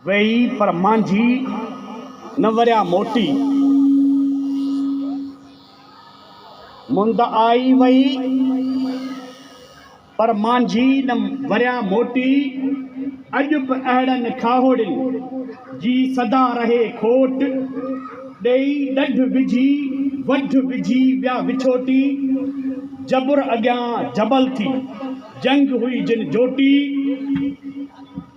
ويئي پر مانجهي نه وريا موٽي. مند آئي ويئي پر مانجهي نه وريا موٽي. اڄ به اهڙن کاهوڙين جي سدا رهي کوٽ. ڏيئي ڏڍ وجهي وڍ وجهي ويا وڇوٽي. جبر اڳيان جبل ٿي جنگ هئي جن جوٽي.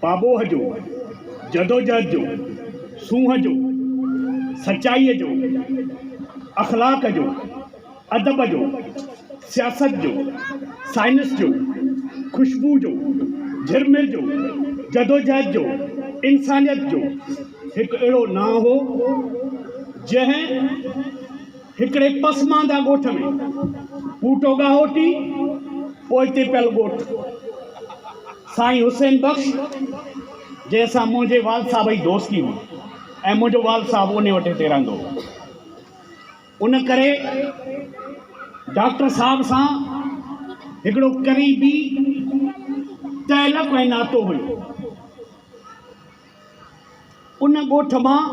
پاٻوهه جو، جدوجهد جو، سونهن جو، سچائيء جو، اخلاق جو، ادب جو، سياست جو، سائنس جو، خوشبو جو، جھرمر جو، جدوجهد جو، انسانيت جو هڪ اهڙو نانء هو، جنهن هڪڙي پسمانده ڳوٺ ۾ ٻوٽو ڳاهوٽي، پوئتي پيل ڳوٺ، سائين حسين بخش جنهن سان منهنجي والد صاحب جي دوستي هئي ۽ منهنجو والد صاحب انهي وٽ هتي رهندو هو. ان ڪري ڊاڪٽر صاحب سان هڪڙو قريبي تعلق ۽ ناتو هيو. ان ڳوٺ مان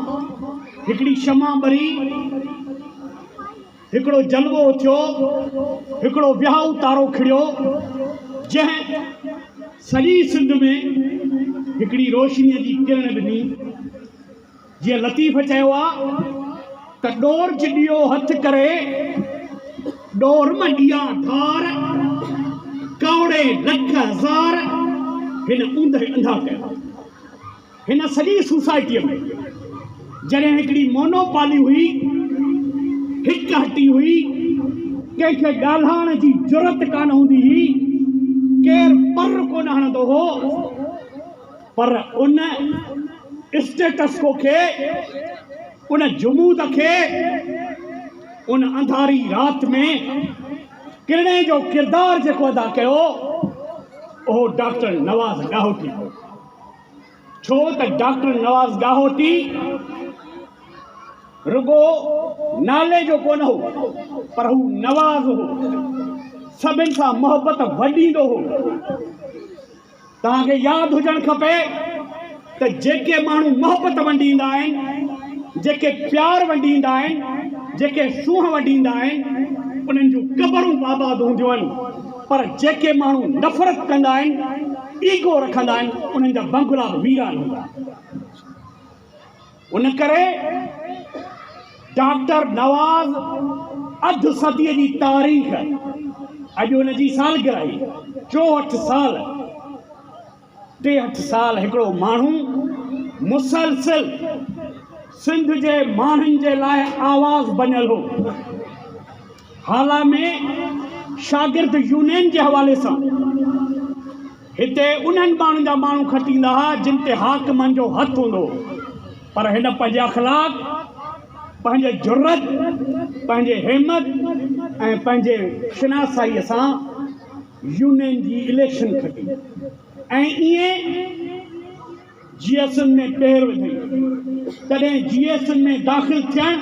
هڪڙي شمع ٻري، هڪڙو جلوو اٿيو، هڪڙو ويهائو تارو کڙيو، جنهن سڄي سنڌ ۾ هڪڙي روشنيء جي ڪرڻ ڏني. جيئن لطيف چيو آهي. ته ڏور جڏيو هٿ ڪري، ڏور م ڏيا ڌار، ڪاوڙي لک هزار، هن اوندهه انڌا ڪيا. هن سڄي سوسائٽيء ۾ جڏهن هڪڙي مونو پالي هئي، هڪ هٽي هئي، ڪنهن کي ڳالهائڻ جي جرئت ڪانه هوندي هئي، ڪير پر ڪونه هڻندو هو، پر ان اسٽيٽسڪو کي، ان جمود کي، ان انڌاري رات ۾ ڪرڻي جو ڪردار جيڪو ادا ڪيو اهو ڊاڪٽر نواز ڳاهوٽي هو. ڇو ته ڊاڪٽر نواز ڳاهوٽي رڳو نالي جو ڪونه هو پر هو نواز هو، سڀن سان محبت وڍيندو هو. توهان کي ياد هجڻ کپي ته جيڪي ماڻهو محبت ونڊيندا آهن، جيڪي پيار ونڊيندا آهن، جيڪي سونهن ونڊيندا آهن، انهن جون قبرون به آباد هونديون آهن، پر جيڪي ماڻهو نفرت ڪندا آهن، ايگو رکندا آهن، انهن جا بنگلا به ويران هوندا آهن. ان ڪري ڊاڪٽر نواز اڌ صديء جي تاريخ، اڄ ان جي سالگرهي، چوهٺ سال، ٽيهٺ سال هڪڙو ماڻهو مسلسل سنڌ جي ماڻهن جي لاء آواز بنيل هو. هالا ۾ شاگرد يونين جي حوالي سان. هتي انهن ٻانهن جا ماڻهو کٽيندا ها جن تي حاڪمن جو هٿ هوندو هو پر هن پنهنجي اخلاق، پنهنجي جرئت، پنهنجي همت ۽ پنهنجي شناسائيء سان يونين جي اليڪشن کٽي ۽ ايئن جي ايس اين ۾ پير وڌائين. تڏهن جي ايس اين ۾ داخل ٿيڻ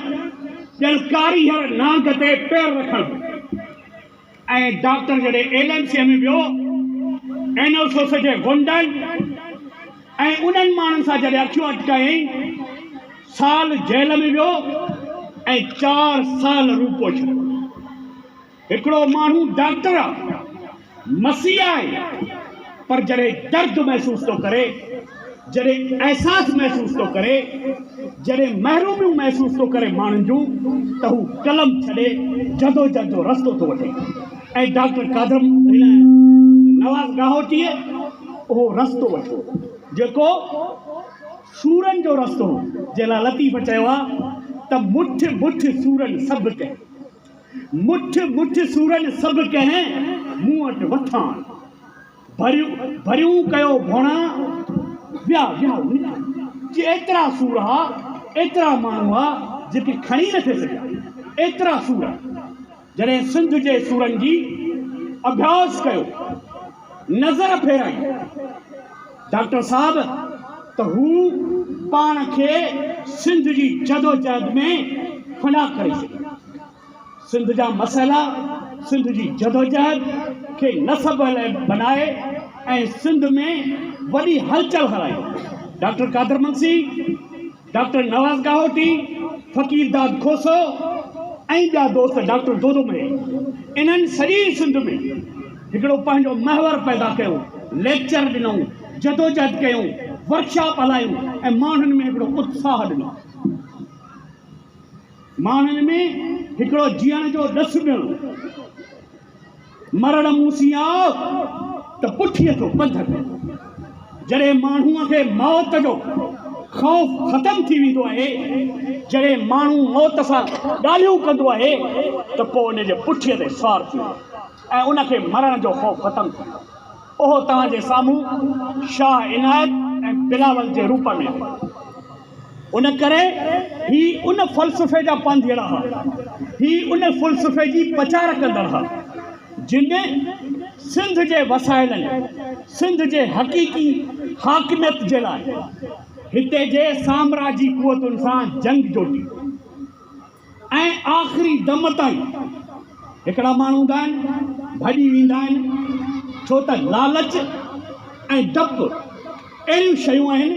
ڄڻ ڪاري هير نانگ تي پير رکڻ هو. ۽ ڊاڪٽر جڏهن ايل ايم سيء ۾ ويو، اين او سوسه جي غنڊن ۽ انهن ماڻهن سان جڏهن اکيون اٽڪايائين، سال جيل ۾ ويو ۽ چار سال روپو ڇڏيو. هڪڙو ماڻهو ڊاڪٽر آ، مسيحي آهي. پر جڏهن درد محسوس ٿو ڪري، جڏهن احساس محسوس ٿو ڪري، جڏهن محروميون محسوس ٿو ڪري ماڻهن جون ته هو قلم ڇڏي جدوجهد جو رستو ٿو وٺي ۽ ڊاڪٽر قادر نواز ڳاهوٽيء اهو رستو وٺو جيڪو سورن جو رستو هو جنهن لاء لطيف چيو آهي ته مٺ مٺ سورن سڀ ڪئي. مٺ مٺ سورن سڀ ڪنهن، مون وٽ وٿان ڀريون ڀريون ڪيو ڀوڻا، ويا ويا نڪري جي ايترا سور ها، ايترا ماڻهو ها جيڪي کڻي نه ٿي سگهيا، ايترا سور جڏهن سنڌ جي سورن جي اڀياس ڪيو. نظر ڦيرائين ڊاڪٽر صاحب ته هو پاڻ کي سنڌ جي جدوجهد ۾ فنا ڪري ڇڏي. سنڌ جا مسئلا، سنڌ جي جدوجهد کي نصب بنائي ۽ سنڌ ۾ وڏي هلچل هلائي. ڊاڪٽر قادر منسي. ڊاڪٽر نواز ڳاهوٽي، فقير داد کوسو ۽ ٻيا دوست ڊاڪٽر دودو مئي انهن سڄي سنڌ ۾ هڪڙو پنهنجو محور پيدا ڪيو، ليڪچر ڏنائون، جدوجهد ڪيون، ورڪشاپ هلايون ۽ ماڻهن ۾ هڪڙو اتساهه ڏنو. ماڻهن ۾ هڪڙو جيئڻ جو ڏس ڏنو. مرڻ مون سين آء ته پٺيء جو پنڌ ڪندو. جڏهن ماڻهوء کي موت جو خوف ختم ٿي ويندو آهي، جڏهن ماڻهو موت سان ڳالهيون ڪندو آهي ته پوء ان جي پٺيء تي سوار ٿي وڃو ۽ ان کي مرڻ جو خوف ختم ٿي ويندو. اهو توهان جي سامهون شاهه عنايت ۽ بلاول جي روپ ۾ آهي. ان ڪري هي ان فلسفي جا پانڌيئڙا ها. هي ان فلسفي جي پچار ڪندڙ ها، جن سنڌ جي وسائلن، سنڌ جي حقيقي حاڪميت جي لاء هتي جي سامراجي قوتن سان جنگ جوٽي. ۽ آخري دم تائين هڪڙا ماڻهو هوندا آهن ڀڄي ويندا آهن ڇو ته لالچ ۽ ڊپ اهڙيون شيون آهن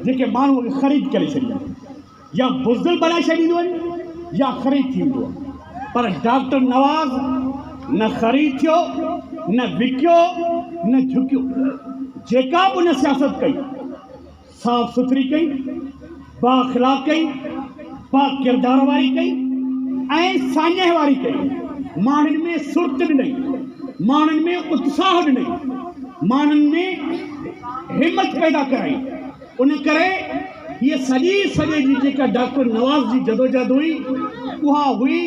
جيڪي ماڻهو کي خريد ڪري ڇڏينديون آهن يا بزدل بڻائي ڇڏينديون آهن يا خريد ٿي ويندو آهي پر ڊاڪٽر نواز نه خريد ٿيو نه وڪيو نه جهڪيو جيڪا به ان سياست ڪئي صاف سٿري ڪئي، با اخلاق ڪئي، با ڪردار واري ڪئي ۽ ساڃهه واري ڪئي، ماڻهن ۾ سرت ڏنئي، ماڻهن ۾ اتساهه ڏنئي، ماڻهن ۾ همٿ پيدا ڪرائي، ان ڪري هيء سڄي سڄي جي جيڪا ڊاڪٽر نواز جي جدوجهد هئي اها هئي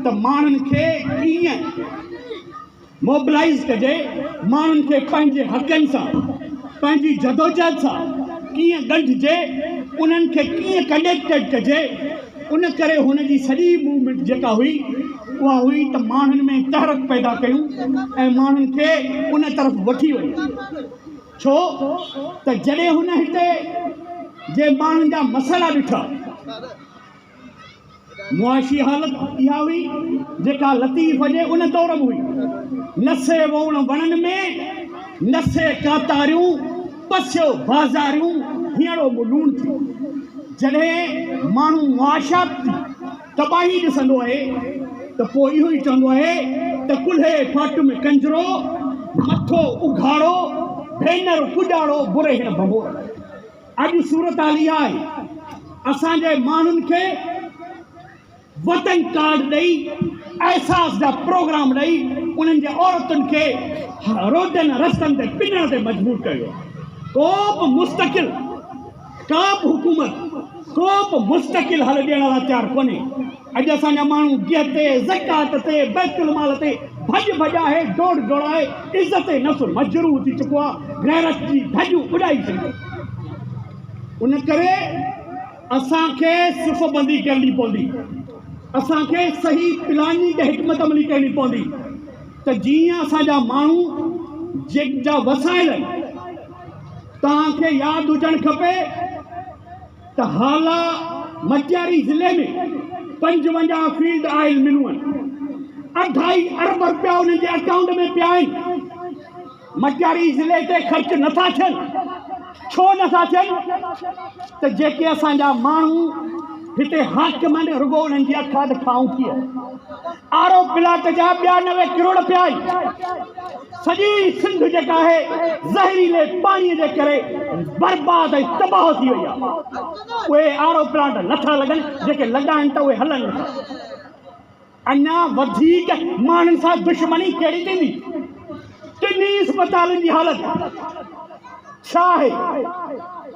ته ماڻهن کي ڪيئن موبلائيز ڪجي، ماڻهن کي پنهنجي حقن سان پنهنجي جدوجهد سان ڪيئن ڳنڍجي، انهن کي ڪيئن ڪنيڪٽيڊ ڪجي، ان ڪري هن جي سڄي موومينٽ جيڪا هئي اها هئي ته ماڻهن ۾ تحرڪ پيدا ڪيون ۽ ماڻهن کي ان طرف وٺي وڃون ڇو ته جڏهن هن هتي جي ماڻهن جا مسئلا ڏٺا. معاشي حالت اها هئي، جيڪا لطيف جي ان دور ۾ هئي. نه سي ووڻ وڻن ۾، نه سي ڪاتاريون، پسيو بازاريون، هينئڙو مون لوڻ ٿي. جڏهن ماڻهو معاشيات جي تباهي ڏسندو آهي ته پوء اهو ئي چوندو آهي ته ڪلهي ڦاٽ ۾ ڪنجرو، مٿو اگهاڙو، ڀينر پڄاڙو، برهيڻ ڀنڀور. اڄ صورتحال اها آهي اسان جي ماڻهن کي وٽنگ ڪارڊ ڏئي احساس جا پروگرام ڏئي انهن جي عورتن کي روڊن رستن تي پنڻ تي مجبور ڪيو ڪو به مستقل ڪا به حڪومت ڪو به مستقل حل ڏيڻ لاء تيار ڪونهي اڄ اسان جا ماڻهو گيهه تي، زڪوات تي، بيت المال تي ڀڄ ڀڄ آهي، ڊوڙ ڊوڙ آهي، عزت نفس مجروح ٿي چڪو آهي، غيرت جي ڌڄون اڏائي ڇڏيون. ان ڪري اسان کي صف بندي ڪرڻي پوندي، اسان کي صحيح پلاننگ ۽ حڪمت عملي ڪرڻي پوندي ته جيئن اسان جا ماڻهو جيڪ جا وسائل توهان کي ياد هجڻ کپي، ته هالا مٽياري ضلعي ۾ پنجونجاهه فيلڊ آئل ملون آهن، اڍائي ارب رپيا انهن جي اڪائونٽ ۾ پيا آهن، مٽياري ضلعي تي خرچ نه ٿا ٿين، ڇو نه ٿا ٿين ته جيڪي اسان جا ماڻهو هتي حاڪم آهن رڳو انهن جي اکاڌ کائون ٿئي، آر او پلاٽ جا ٻيانوي ڪروڙ پيا آهن. سڄي سنڌ جيڪا آهي زهريلي پاڻي جي ڪري برباد ۽ تباهه ٿي وئي آهي اهي آر او پلانٽ نٿا لڳن جيڪي لڳا آهن ته اهي هلن نٿا اڃا وڌيڪ ماڻهن سان دشمني ڪهڙي ٿيندي ٽنهي اسپتالن جي حالت ڇا آهي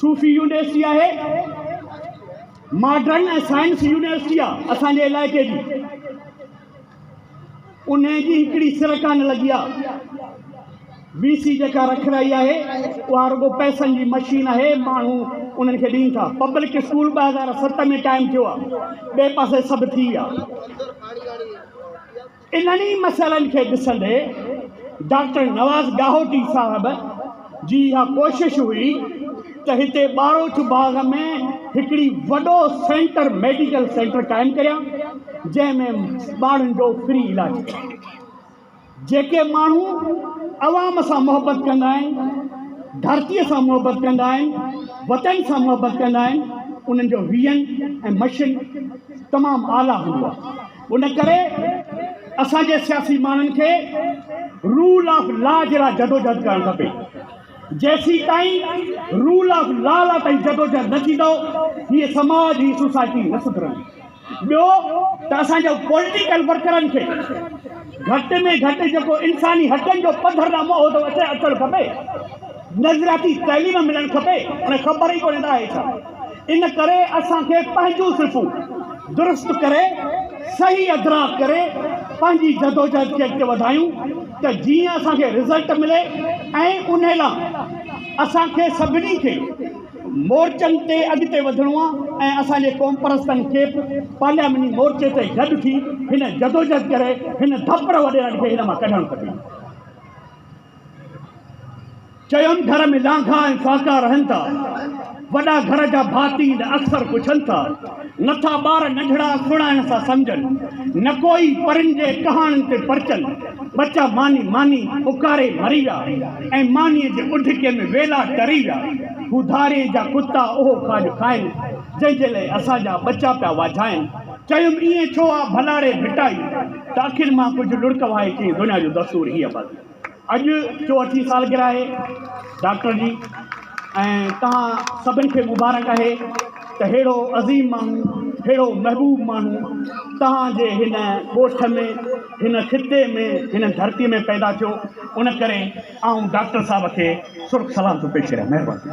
صوفي يونيورسٽي آهي ماڊرن ۽ سائنس يونيورسٽي آهي اسان جي علائقي جي ان جي هڪڙي سر ڪانه لڳي آهي وي سي جيڪا رک رهي آهي اها رڳو پئسن جي مشين آهي ماڻهو انهن کي ڏين ٿا پبلڪ اسڪول ٻه هزار ست ۾ قائم ٿيو آهي ٻئي پاسي سڀ ٿي ويا انهن ئي مسئلن کي ڏسندي ڊاڪٽر نواز ڳاهوٽي صاحب جي اها ڪوشش هئي ته هتي ٻاروچ باغ ۾ هڪڙي وڏو سينٽر ميڊيڪل سينٽر قائم ڪريان جنهن ۾ ٻارن جو فري علاج ٿئي جيڪي ماڻهو عوام سان محبت ڪندا آهن ڌرتيء سان محبت ڪندا آهن وطن سان محبت ڪندا آهن انهن جو ويهن ۽ مشن تمام اعليٰ هوندو آهي ان ڪري اسان جي سياسي ماڻهن کي رول آف لا جي لاء جدوجهد ڪرڻ کپي جيسيتائين رول آف لا لا تائين جدوجهد نه ٿيندو هي سماج هي سوسائٽي نه سڌرندي ٻيو ته اسان جو پوليٽيڪل ورڪرن کي گهٽ ۾ گهٽ جيڪو انساني حقن جو پڌر ڏانهن منهن ٿو اچي اچڻ کپي نظرياتي تعليم ملڻ کپي هن خبر ئي ڪونهي ته آهي ڇا ان ڪري اسان کي پنهنجون صرفون درست ڪري صحيح ادراڪ ڪري پنهنجي جدوجهد کي اڳتي وڌايون ته جيئن اسان کي رزلٽ ملي ۽ ان لاء اسان کي سڀني کي مورچن تي اڳتي وڌڻو آهي ۽ اسان جي قومپرستن کي به پارلياماني مورچي تي گڏ ٿي هن جدوجهد ڪري هن ڌپڙ وڏيرن کي هن مان ڪڍڻ کپي. چيم گهر ۾ لانگها ۽ فاڪا رهن ٿا، وڏا گهر جا ڀاتي اڪثر پڇن ٿا. نه ٿا ٻار ننڍڙا سڻائڻ سان سمجهن، نه ڪوئي پرين جي ڪهاڻين تي پرچن، ٻچا ماني ماني پڪاري مري ويا، ۽ مانيء جي اڍڪي ۾ ويلا ٽري ويا. هو ڌاري جا ڪتا اهو کاڄ کائن، جنهن جي لئه اسان جا ٻچا پيا واجهائن. چيم ائين ڇو آ ڀلا ري ڀٽائي، ته اکين مان ڪجهه لڙڪ وهائي چيم دنيا جو دستور هيء بس. اڄ جو اٺين سالگرهه آهي ڊاڪٽر جي ۽ توهان سڀن کي مبارڪ آهي ته ههڙو عظيم ماڻهو ههڙو محبوب ماڻهو توهان جي هن ڳوٺ ۾ هن خطي ۾ هن ڌرتي ۾ پيدا ٿيو ان ڪري آئون ڊاڪٽر صاحب کي سرخ سلام ٿو پيش ڪريان مهرباني